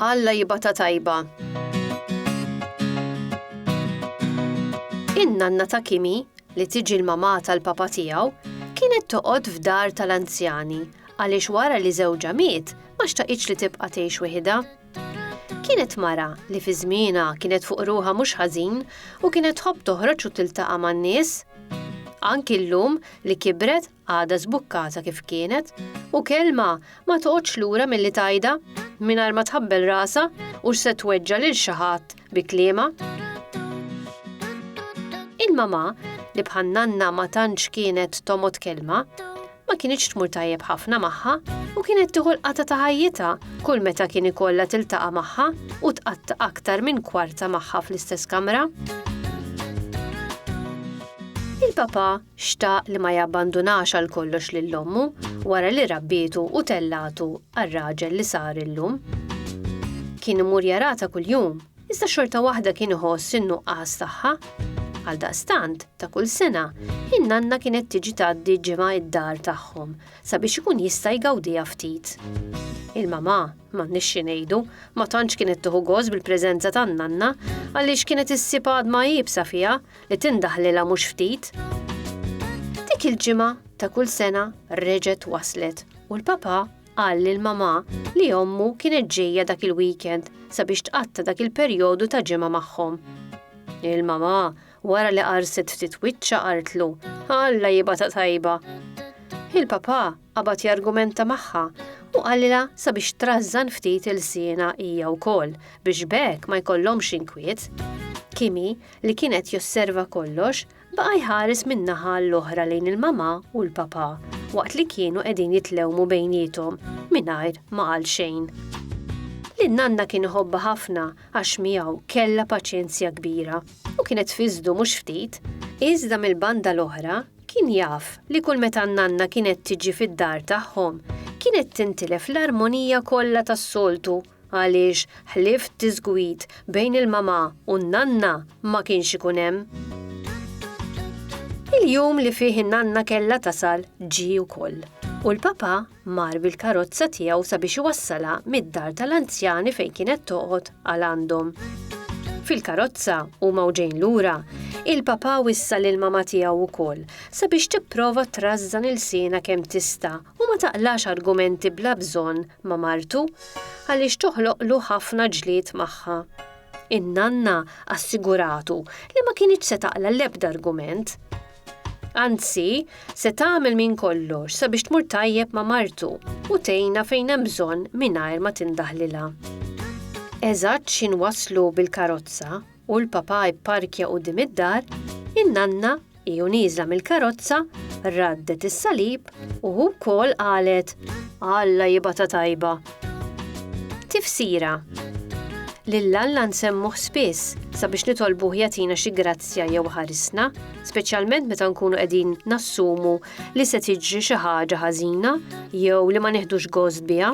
Alla jibata tajba. In-nanna ta' Kimi, li tiġi l-mamà tal-papa tiegħu, kienet toqgħod f'dar tal-anzjani għaliex wara li żewġha miet ma xtaqitx li tibqa' tgħix weħidha. Kienet mara li fi żmienha kienet fuq ruħha mhux ħażin u kienet tħobb toħroġ u tiltaqa' man-nies. Anki llum li kibret għadha żbukkata kif kienet u kelma ma toqgħodx lura milli tgħidha mingħajr ma tħabbel rasha u x'se tweġġa' lil xi ħadd Bi kliema, il-mamà li bħan-nanna ma tantx kienet tomgħod kelma, ma kinitx tmur tajjeb ħafna magħha u kienet tieħu l-qata ta' ħajjitha kull meta kien ikollha tiltaqa' magħha u tqatta' aktar minn kwarta magħha fl-istess kamra. Il-papà xtaq li ma jabbandunax għal kollox lil ommu wara li rabbietu u tellatu għar-raġel li sar illum. Kien imur jarata kuljum, iżda xorta waħda kien iħoss in-nuqqas tagħha. Għal daqstant, ta' kull sena, in-nanna kienet tiġi tgħaddi ġimgħa id-dar tagħhom sabiex ikun jista' jgawdiha ftit. Il-mamà, m'għandniex xi ngħidu, ma tantx kienet tieħu gost bil-preżenza tan-nanna għaliex kienet issib għadma iebsa fiha li tindaħlilha mhux ftit. Dik il-ġimgħa ta' kull sena reġgħet waslet u l-papa qal lil mamà li ommu kienet ġejja dak il-weekend sabiex tqatta' dak il-perjodu ta' ġimgħa magħhom. Il-mamà wara li qarset ftit wiċċa qartlu, Alla jibata tajba. Il-papa qabad jargumenta magħha u qalilha sabiex trażżan ftit il-siena hija wkoll biex bekk ma jkollhomx inkwiet. Kimi li kien qed josserva kollox, baqa' jħares minn naħa għall-oħra lejn il-mamà u l-papà waqt li kienu qegħdin jitlewmu bejniethom mingħajr ma qal xejn. Lin-nanna kien iħobbha ħafna għax miegħu kellha paċenzja kbira u kienet fiżdu mhux ftit, iżda mill-banda l-oħra kien jaf li kull meta n-nanna kienet tiġi fid-dar tagħhom kienet tintilef l-armonija kollha tas-soltu Għaliex ħlief diżgwid bejn il-mamà u n-nanna ma kienx ikun hemm. Il-jum li fih in-nanna kellha tasal ġie wkoll u l-papà mar bil-karozza tiegħu sabiex iwassalha mid-dar tal-anzjani fejn kienet toqgħod għal għandhom. Fil-karozza huma u ġejn lura, il-papà wissa lill-mamà tiegħu wkoll sabiex tipprova trażżan ilsienha kemm tista' U ma taqlax argumenti bla bżonn ma' martu għaliex toħloqlu ħafna ġlied magħha. In-nanna assiguratu li ma kinitx se taqla' l-ebda argument. Anzi, se tagħmel minn kollox sabiex tmur tajjeb ma' martu u tgħinha fejn hemm bżonn mingħajr ma tindaħlilha. Eżatt x'inwasslu bil-karozza, u l-Papà ipparkja quddiem id-dar, in-nanna, hi u nieżla mill-karozza, raddet is-salib u hu wkoll qalet, Alla jibgħatha tajba! Tifsira, Lil Alla nsemmuh spiss sabiex nitolbuh jagħtina xi grazzja jew iħarisna, speċjalment meta nkunu qegħdin nassumu li se tiġri xi ħaġa ħażina jew li ma nieħdux gost biha.